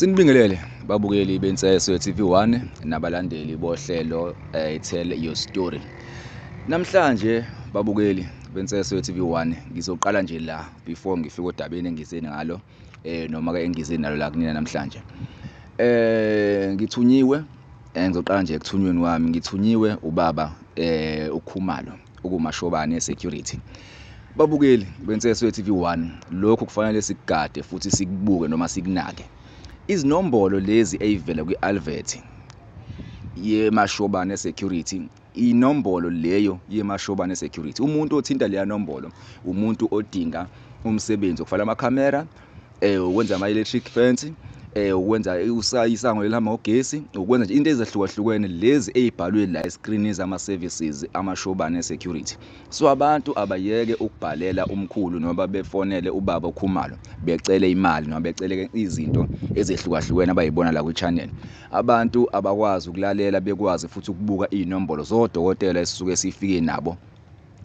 Sinibingelele babukeli beNseswe TV1 nabalandeli bohlelo eh, Tell Your Story. Namhlanje babukeli beNseswe TV1 ngizoqala nje la before ngifike odabeni engizeni ngalo eh noma ke engizeni nalo la kunina namhlanje eh ngithunyiwe eh, ngizoqala nje ekuthunyweni wami ngithunyiwe ubaba eh ukhumalo ukumashobane security babukeli benseswe TV1 lokho kufanele sikugade futhi sikubuke noma sikunake izinombolo lezi eyivela kwi-alvet yemashobane security inombolo leyo yemashobane security umuntu othinta leya nombolo umuntu odinga umsebenzi okufanele amakhamera eh ukwenza ama electric fence eh ukwenza isango elihamba ngogesi ukwenza nje into ezahlukahlukene lezi ezibhalwe la escreen zama services amashobane security so abantu abayeke ukubhalela umkhulu noma befonele ubaba okhumalo becele imali noma becele izinto ezehlukahlukene abayibona la ku channel Abantu abakwazi ukulalela bekwazi futhi ukubuka iy'nombolo zodokotela esisuke sifike nabo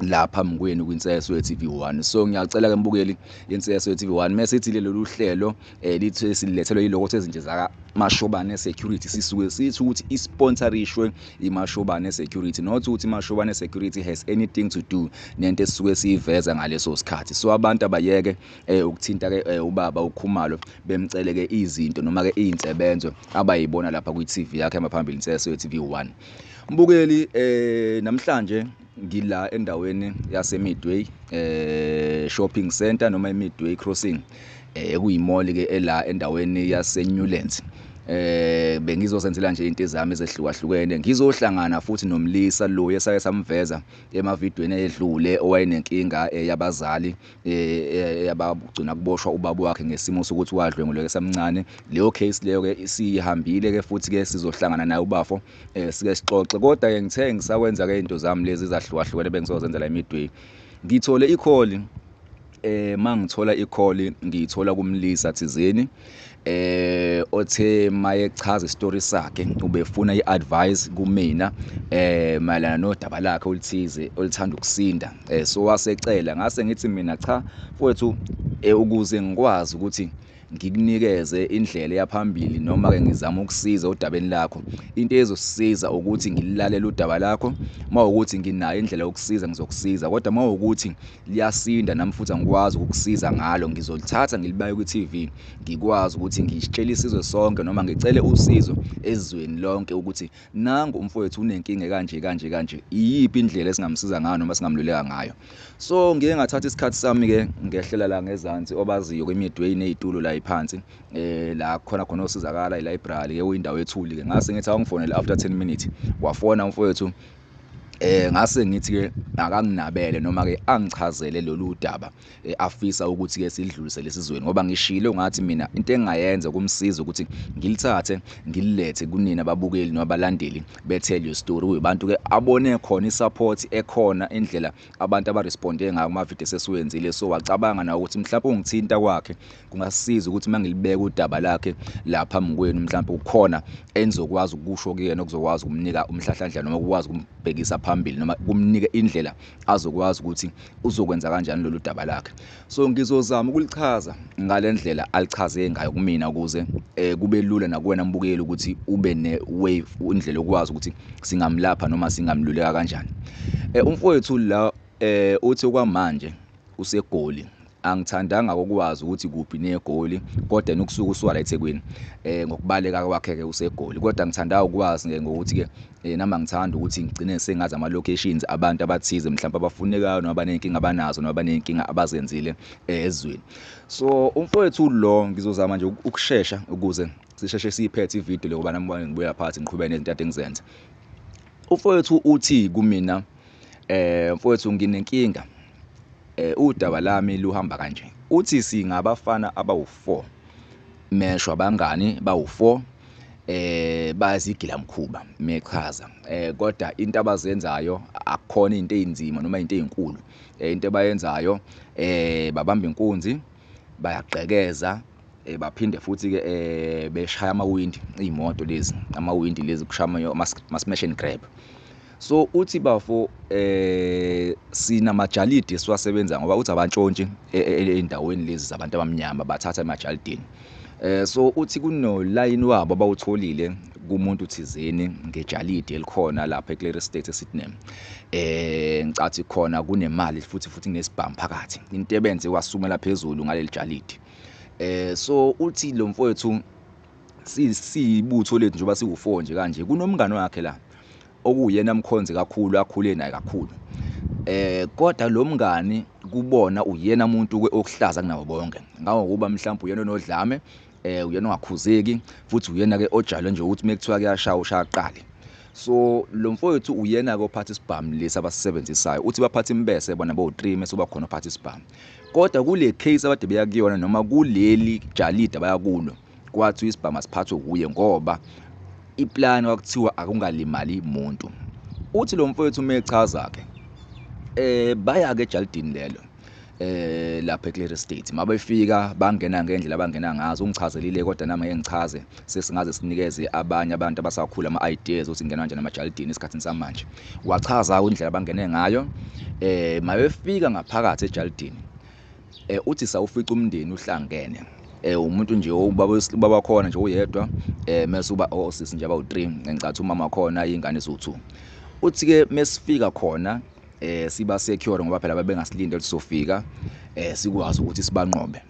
la phambi kwenu kwinseswe ye-TV1 so ngiyacela ke mbukeli inseswe ye-TV1 mesithi lolu hlelo eh lithe silethelwe yiloko sezinje zaka mashobane security sisuke sithi ukuthi isponsorishwe imashobane security not ukuthi mashobane security has anything to do nento esisuke siyiveza ngaleso sikhathi so abantu abayeke eh ukuthinta ke eh, ubaba uKhumalo bemcele ke izinto noma ke izinsebenzo abayibona lapha kwi TV yakhe ehamba phambili inseso TV1 mbukeli eh namhlanje ngila endaweni yase Midway eh shopping center noma eMidway crossing eh kuyimoli ke ela endaweni yase Newlands eh bengizosenzela nje into ezami ezehlukahlukene ngizohlangana futhi nomlisa lo esake samveza emavidweni edlule owayenenkinga eh, yabazali yabagcina kuboshwa ubaba wakhe ngesimo sokuthi wadlwenguleka esamncane leyo case leyo ke isihambile ke futhi ke sizohlangana naye ubafo eh sike sixoxe kodwa ke ngithe ngisakwenza ke into zami lezi zahlukahlukene bengizozenza la midway ngithole ikholi eh mangithola ikholi ngiyithola kumlisa thizeni eh othe maye chaza istory sakhe ubefuna iadvice kumina eh mayelana nodaba lakhe olithize olithanda ukusinda eh so wasecela ngase ngithi mina cha mfowethu eh, ukuze ngikwazi ukuthi ngikunikeze indlela yaphambili noma ke ngizama ukusiza udabeni lakho into ezosiza ukuthi ngilalele udaba lakho mawukuthi nginayo indlela yokusiza ngizokusiza kodwa mawukuthi Liyasinda nami futhi angikwazi ukukusiza ngalo ngizolithatha ngilibaye kwi TV ngikwazi ukuthi ngitshele isizwe sonke noma ngicele usizo ezweni lonke ukuthi nangu umfowethu unenkinga kanje kanje kanje iyiphi indlela esingamsiza ngayo noma singamluleka ngayo so ngike ngathatha isikhathi sami ke ngehlela la ngezansi obaziyo kwemidway nezitulo la iphansi eh la khona khona osizakala ilibrary ke uyindawo ethuli ke ngase ngithi awungifonele after 10 minutes wafona umfowethu eh ngase ngithi ke akanginabele noma ke angichazele lolu daba eh, afisa ukuthi ke sidlulise lesizweni ngoba ngishilo ngathi mina into engayenza kumsiza ukuthi ngilithathe ngililethe kunina babukeli nabalandeli bethel your story kubantu ke abone khona isupport ekhona indlela abantu abaresponde ngayo kuma video sesiwenzile so wacabanga na ukuthi mhlawumbe ungithinta kwakhe kungasiza ukuthi uma ngilibeka udaba lakhe la phambi kwenu mhlawumbe kukhona enizokwazi ukusho kuyena okuzokwazi ukumnika umhlahlandlela noma ukwazi ukumbhekisa phambili noma kumnike indlela azokwazi ukuthi uzokwenza kanjani lolu daba lakhe so ngizozama ukulichaza ngale ndlela alichaze ngayo kumina ukuze um kube lula nakuwena mbukeli ukuthi ube ne-wave indlela yokwazi ukuthi singamlapha noma singamluleka kanjani um umfowethu la um uthi okwamanje usegoli Angithandanga ukwazi ukuthi kuphi neGoli kodwa nokusuka usuka la eThekwini eh ngokubaleka kwakhe ke useGoli kodwa ngithanda ukwazi ke ngokuthi ke eh nami ngithanda ukuthi ngigcine sengazi ama locations abantu abathize mhlawumbe abafunekayo noma banenkinga abanazo noma banenkinga abazenzile eh, ezweni so umfowethu lo ngizozama nje ukushesha ukuze sisheshe siyiphethe ivideo le ngoba nami ngibuya phansi ngiqhubeke nezinto engizenza umfowethu uthi kumina eh mfowethu nginenkinga eh udaba lami luhamba kanje uthi singabafana abawu4 mesho abangani bawu4 eh bayazigila mkhuba mechaza eh kodwa into abazenzayo akukhona into ezinzima noma into ezinkulu eh, into abayenzayo eh babamba inkunzi bayagqekeza eh baphinde futhi ke eh beshaya amawindi imoto lezi amawindi lezi kushama ama smash and grab So uthi bafo eh sina majalidi siwasebenza ngoba uthi abantshontshi e, e, e, endaweni lezi zabantu abamnyama bathatha emajalidini. Eh so uthi kuno line wabo abawutholile kumuntu thizeni ngejalidi elikhona lapha eClear Estate eSydney. Eh ngicathi khona kunemali futhi futhi kunesibhamu phakathi. Into ebenze wasumela phezulu ngaleli jalidi. Eh so uthi lo mfowethu siyibutho lethu njengoba siwu-four nje kanje kunomngane wakhe la okuwuyena mkhonzi kakhulu akhule naye kakhulu eh kodwa lo mngani kubona uyena muntu okuhlaza kunabo bonke ngangokuba mhlawumbe uyena onodlame eh uyena ongakhuzeki futhi uyena ke ojalo nje ukuthi mekuthiwa kuyashaya ushaya qali so lo mfowethu uyena ke ophatha isibhamu lesi abasisebenzisayo uthi baphatha imbese bona bo-3 mese uba khona ophatha isibhamu kodwa kule case abade beya kuyona noma kuleli jalida bayakulo kwathiwa isibhamu asiphathwe wuye ngoba iplani kwakuthiwa akungalimali muntu uthi lo mfowethu uma echaza-ke um baya-ke ejalidini lelo eh lapha eClear State mabefika bangena ngendlela abangena ngazo ungichazelile kodwa nami ngeke ngichaze sesingaze sinikeze abanye abantu abasakhula ama ideas ukuthi ngenwa kanjani amajalidini esikhathini samanje wachaza indlela abangene ngayo eh mabefika ngaphakathi ejalidini eh uthi sawufica umndeni uhlangene eh umuntu nje ubaba ubaba khona nje uyedwa eh mase uba osisi oh, nje aba u3 ngicathi umama khona ingane so2 uthi ke mesifika khona eh siba secure ngoba phela babengasilinde ukuthi sofika eh sikwazi ukuthi sibanqobe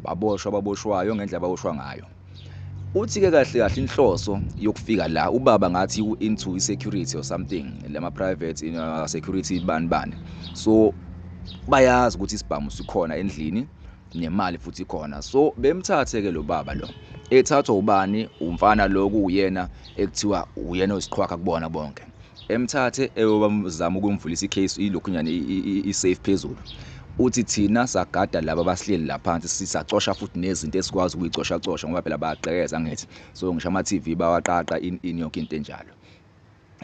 baboshwa ababoshwayo ngendlela ababoshwa ngayo uthi-ke kahle kahle inhloso yokufika la ubaba ngathi into i-security or something lama-private you know, security bani bani so bayazi ukuthi isibhamu sikhona endlini nemali futhi khona so bemthathe ke lo baba lo ethathwa ubani umfana lo kuyena ekuthiwa uyena osiqhwakha kubona bonke emthathe eyobamzama ukumvulisa icase ilokhunyana i-safe phezulu uthi thina sagada laba abahleli la phansi sisacosha futhi nezinto esikwazi ukuyicoshacosha ngoba phela bayagqekeza angithi so ngisho ama-tv bawaqaqa in, in yonke into enjalo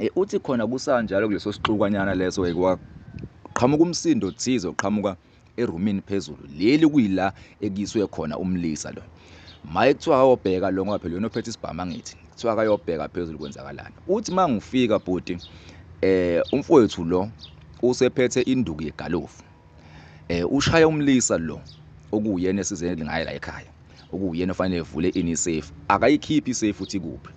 e, uthi khona kusanjalo kuleso sixukwanyana leso kwaqhamuka umsindo thize oqhamuka erumini phezulu leli kuyila ekuyiswe khona umlisa lo maye kuthiwa akayobheka lo ngoba phela yona ophethe isibhamu angithi kuthiwa akayobheka phezulu kwenzakalani uthi uma ngifika bhuti eh umfowethu lo usephethe induku yegalofu eh ushaya umlisa lo okuyena esize ngaye la ekhaya okuyena ofanele evule ini safe akayikhiphi safe uthi kuphi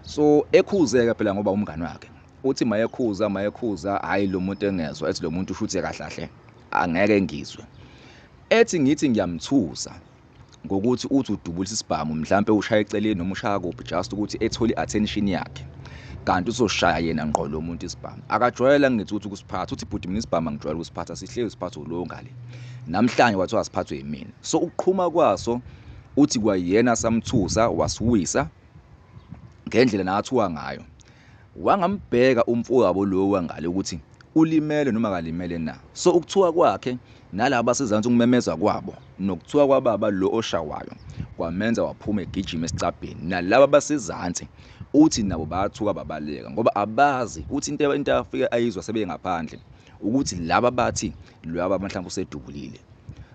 so ekhuzeka phela ngoba umngani wakhe Uthi mayekhuza mayekhuza hayi lo muntu engezwa ethi lo muntu ushuthi kahlahle angeke ngizwe. Ethi ngithi ngiyamthusa ngokuthi uthi udubulisa isibhamu mhlampe ushaya eceleni noma ushaya kuphi just ukuthi ethole i-attention yakhe kanti uzoshaya yena ngqo lo muntu isibhamu akajwayela ngithi ukuthi ukusiphatha uthi bhuti mina isibhamu angijwayele ukusiphatha sihlezi siphathwe ulowo ngale namhlanje wathiwa asiphathwe yimina so ukuqhuma kwaso uthi kwayena samthusa wasiwisa ngendlela nakathiwa ngayo Wangambheka umfowabo lo wangale ukuthi ulimele noma akalimele na. So ukuthuka kwakhe nalaba abasezansi ukumemeza kwabo nokuthuka kwababa lo oshawayo kwamenza waphuma egijima esicabheni. Nalaba abasezansi uthi nabo bathuka babaleka ngoba abazi uthi into into afike ayizwa sebengaphandle ukuthi laba bathi lwaba mhlawumbe usedubulile.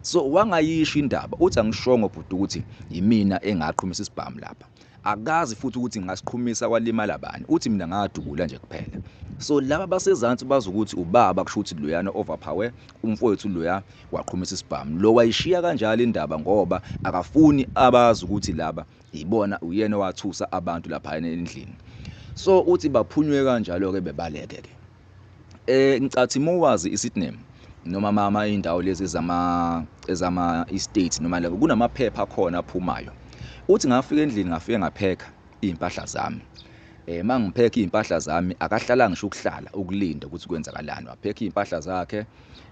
So wangayisho indaba uthi angishongo bhuti ukuthi yimina engaqhumisa isibhamu lapha. Akazi futhi ukuthi ngasiqhumisa kwalimala bani, uthi mina ngadubula nje kuphela. So laba basezansi bazi ukuthi ubaba kusho ukuthi loyana overpower umfowethu loya waqhumisa isibhamu. Lo wayishiya kanjalo indaba ngoba akafuni abazi ukuthi laba yibona uyena owathusa abantu lapha endlini. So uthi baphunywe kanjalo-ke bebaleke-ke. eh ngicathi mowazi iSydney noma mama indawo lezi zama ezama estate noma labo kunamaphepha khona aphumayo uthi ngafika endlini ngafike ngapheka izimpahla zami eh mangipheka izimpahla zami akahlala ngisho ukuhlala ukulinda ukuthi kwenzakalani wapheka izimpahla zakhe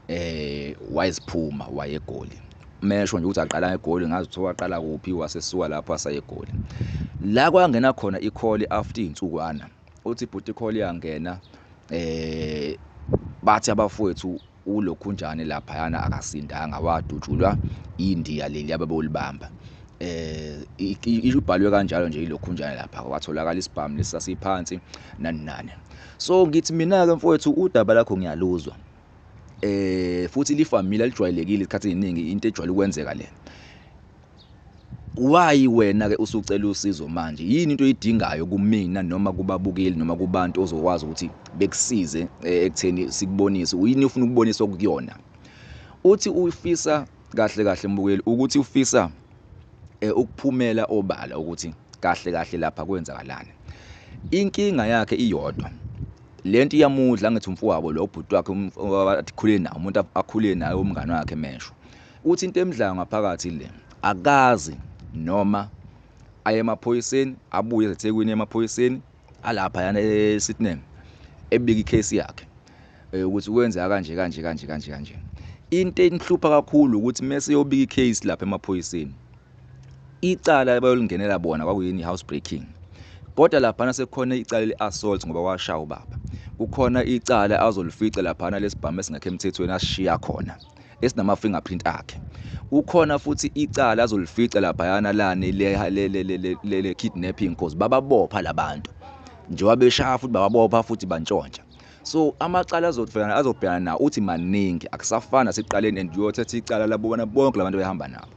eh wayeziphuma wayegoli mesho nje ukuthi aqala egoli ngazi ukuthi waqala kuphi wasesuka lapho asayegoli la kwangena khona ikholi after izinsukwana uthi bhuti call yangena eh bathi abafowethu ulokhunjane laphayana akasindanga wadutshulwa indiya leli ababolibamba eh ibhalwe kanjalo nje ilokhunjana lapha watholakala isibhamu lesasiphansi nani nani so ngithi mina ke mfowethu udaba lakho ngiyaluzwa eh futhi lifamile lijwayelekile isikhathi eziningi into ejwayele ukwenzeka lena Why wena ke usucela usizo manje? Yini into oyidingayo kumina noma kubabukeli noma kubantu ozokwazi ukuthi bekusize eh, ekutheni sikubonise. Uyini ufuna ukubonisa okuyona? Uthi ufisa kahle kahle mbukeli ukuthi ufisa eh, ukuphumela obala ukuthi kahle kahle lapha kwenzakalani. Inkinga yakhe iyodwa. Lento iyamudla ngithi umfowabo lo ubhuti wakhe um, akhule nawo umuntu akhule naye umngane wakhe mesho. Uthi into emdlayo ngaphakathi ile. Akazi noma aye emaphoyiseni abuye eThekwini emaphoyiseni alapha yana eSitneng ebika icase yakhe eh, ukuthi kwenzeka kanje kanje kanje kanje kanje. Into enihlupha kakhulu ukuthi mase yobika icase lapha emaphoyiseni. Icala bayolingenela bona kwakuyini housebreaking. Kodwa lapha nasekhona icala leassault ngoba washaya ubaba. Kukhona icala azolifica lapha lesibhamu esingakho emthethweni ashiya khona. esinama-fingerprint akhe kukhona futhi icala azolifica laphayana lani le-kidnapping cause bababopha labantu njengoba beshaya futhi bababopha futhi bantshontsha so amacala azobhekana azobhekana nawo uthi maningi akusafani nasekuqaleni and uyothetha icala labobona bonke labantu behamba nabo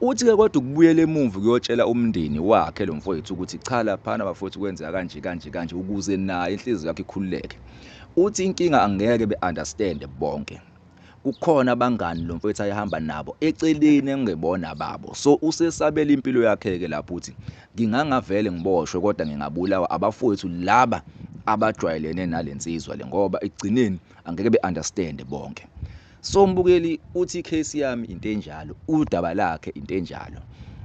uthi-ke kodwa ukubuyela emuva kuyotshela umndeni wakhe lo mfowethu ukuthi cha laphana bafowethu kwenzeka kanje kanje kanje ukuze naye inhliziyo yakhe ikhululeke uthi inkinga angeke be-understande bonke kukhona abangani lo mfethu ayehamba nabo eceleni engebona babo so usesabela impilo yakhe-ke lapho ukuthi ngingangavele ngiboshwe kodwa ngingabulawa abafowethu laba abajwayelene nale nsizwa le ngoba ekugcineni angeke be-understande bonke so mbukeli uthi i-case yami into enjalo udaba lakhe into enjalo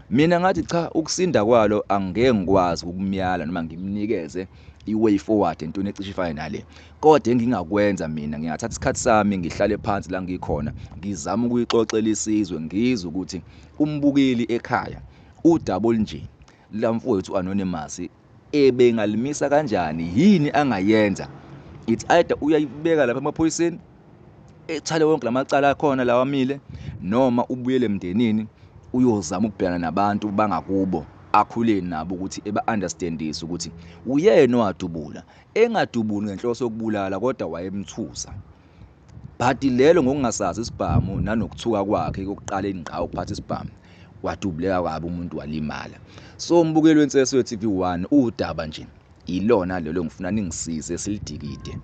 mina ngathi cha ukusinda kwalo angeke ngikwazi ukumyala noma ngimnikeze i-way forward entweni ecishe ifane nale Kodwa engingakwenza mina ngingathatha isikhathi sami ngihlale phansi la ngikhona ngizama ukuyixoxela isizwe ngizwe ukuthi umbukeli ekhaya udaba olunje la mfowethu anonymous ebengalimisa kanjani yini angayenza it's either uyayibeka lapha emaphoyiseni ethale wonke lamacala akhona lawa mile noma ubuyele emndenini uyozama ukubhekana nabantu bangakubo akhuleni nabo ukuthi eba-understandise ukuthi uyena owadubula engadubuli ngenhloso yokubulala kodwa wayemthusa. Bhadi lelo ngokungasazi isibhamu nanokuthuka kwakhe kokuqala ingqa ukuphatha isibhamu wadubuleka kabi umuntu walimala. So umbukeli wenseso ye-TV 1 udaba nje ilona lelo ngifuna ningisize silidikide.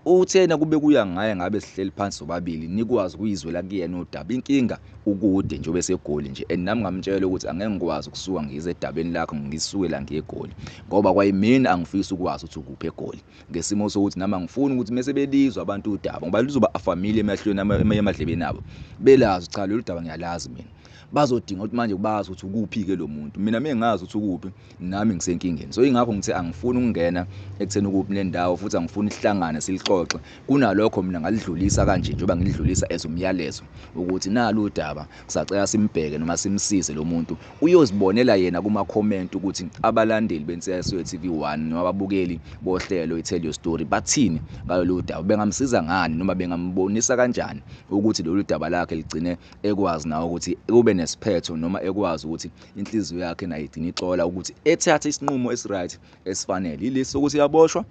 Uthena kube kuya ngaye ngabe sihleli phansi sobabili nikwazi ukuyizwela kuyena udaba. Inkinga ukude nje obesegoli nje and nami ngamtshela ukuthi angeke ngikwazi ukusuka ngize edabeni lakho ngisuke la ngiyegoli ngoba kwayimini angifisi ukwazi ukuthi ukuphi egoli ngesimo sokuthi nami angifuni ukuthi mese belizwa abantu udaba ngoba lizoba afamile emahlweni emadlebeni abo belazi cha lolu daba ngiyalazi mina bazodinga ukuthi manje bazi ukuthi ukuphi ke lo muntu mina mengazi ukuthi ukuphi nami ngisenkingeni so ingakho ngithe angifuni ukungena ekutheni ukuphi nendawo futhi angifuni sihlangane silixoxe kunalokho mina ngalidlulisa kanje njengoba ngilidlulisa as umyalezo ukuthi nalu udaba kusacela simbheke noma simsize lo muntu uyozibonela yena kuma-comment ukuthi abalandeli bensiyaswe TV 1 noma ababukeli bohlelo i-tell your story bathini ngalolu daba bengamsiza ngani noma bengambonisa kanjani ukuthi lolu daba lakhe ligcine ekwazi nawo ukuthi kube nesiphetho noma ekwazi ukuthi inhliziyo yakhe nayo igcina ixola ukuthi ethathe isinqumo esi-right esifanele yilesi sokuthi yaboshwa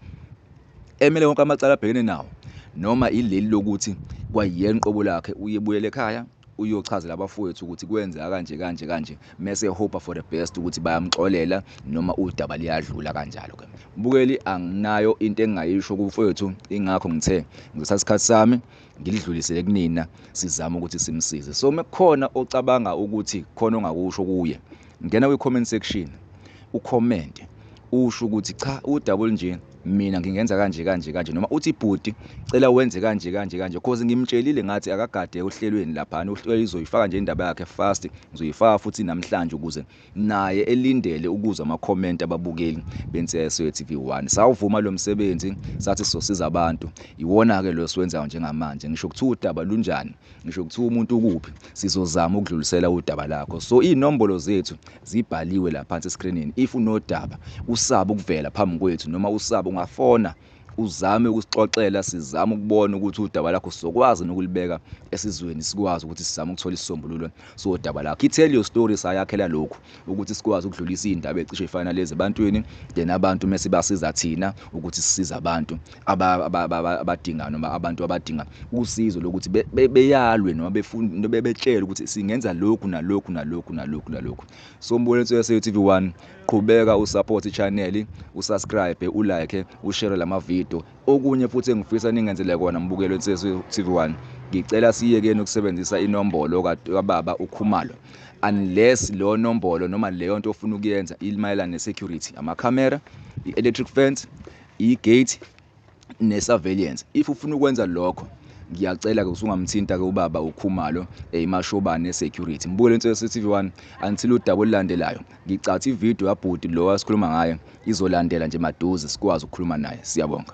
emele wonke amacala abhekene nawo noma ileli lokuthi kwayiyena uqobo lakhe uyebuyele ekhaya uyochazela abafowethu ukuthi kwenzeka kanje kanje kanje mese hope for the best ukuthi bayamxolela noma udaba liyadlula kanjalo ke bukeli anginayo into engingayisho kumfowethu ingakho ngithe ngisasikhathi sami ngilidlulisele kunina sizama ukuthi simsize so mekukhona ocabanga ukuthi khona ongakusho kuye ngena kwi-comment section ukhomente usho ukuthi cha udabule nje mina ngingenza kanje kanje kanje noma uthi bhuti cela wenze kanje kanje kanje cause ngimtshelile ngathi akagade ohlelweni laphana uhlelo izoyifaka nje indaba yakhe fast ngizoyifaka futhi namhlanje ukuze naye elindele ukuzwa ama comment ababukeli beNseswe TV 1 sawuvuma lo msebenzi sathi sizosiza abantu iwona ke lo siwenzayo njengamanje ngisho kuthiwa udaba lunjani ngisho kuthiwa umuntu ukuphi sizozama ukudlulisela udaba lakho so inombolo zethu zibhaliwe la phansi escreenini if unodaba usaba ukuvela phambi kwethu noma usaba ungafona uzame ukusixoxela sizame ukubona ukuthi udaba lakho sizokwazi nokulibeka esizweni sikwazi ukuthi sizame ukuthola isisombululo sodaba lakho i-tell your story sayakhela lokhu ukuthi sikwazi ukudlulisa iy'ndaba ecishe ifana lezi ebantwini then abantu mese basiza thina ukuthi sisize abantu abadinga noma abantu abadinga usizo lokuthi beyalwe noma befunda bebetshele ukuthi singenza lokhu nalokhu nalokhu nalokhu nalokhu so mbonetso yase-tv one Qhubeka usupport channel, usubscribe, ulike, ushare lamavideo. Okunye futhi engifisa ningenzele kona mbukeli weNsizwa TV1, ngicela siyekeni ukusebenzisa inombolo kababa uKhumalo unless leyo nombolo noma leyo nto ofuna ukuyenza imayelana ne-security, amakhamera, i-electric fence, i-gate ne-surveillance if ufuna ukwenza lokho ngiyacela-ke usungamthinta-ke ubaba ukhumalo eh, imashobane security mbuke lento yase-tv one until udaba olulandelayo ngicatha ividiyo yabhuti lo asikhuluma ngaye izolandela nje maduze sikwazi ukukhuluma naye siyabonga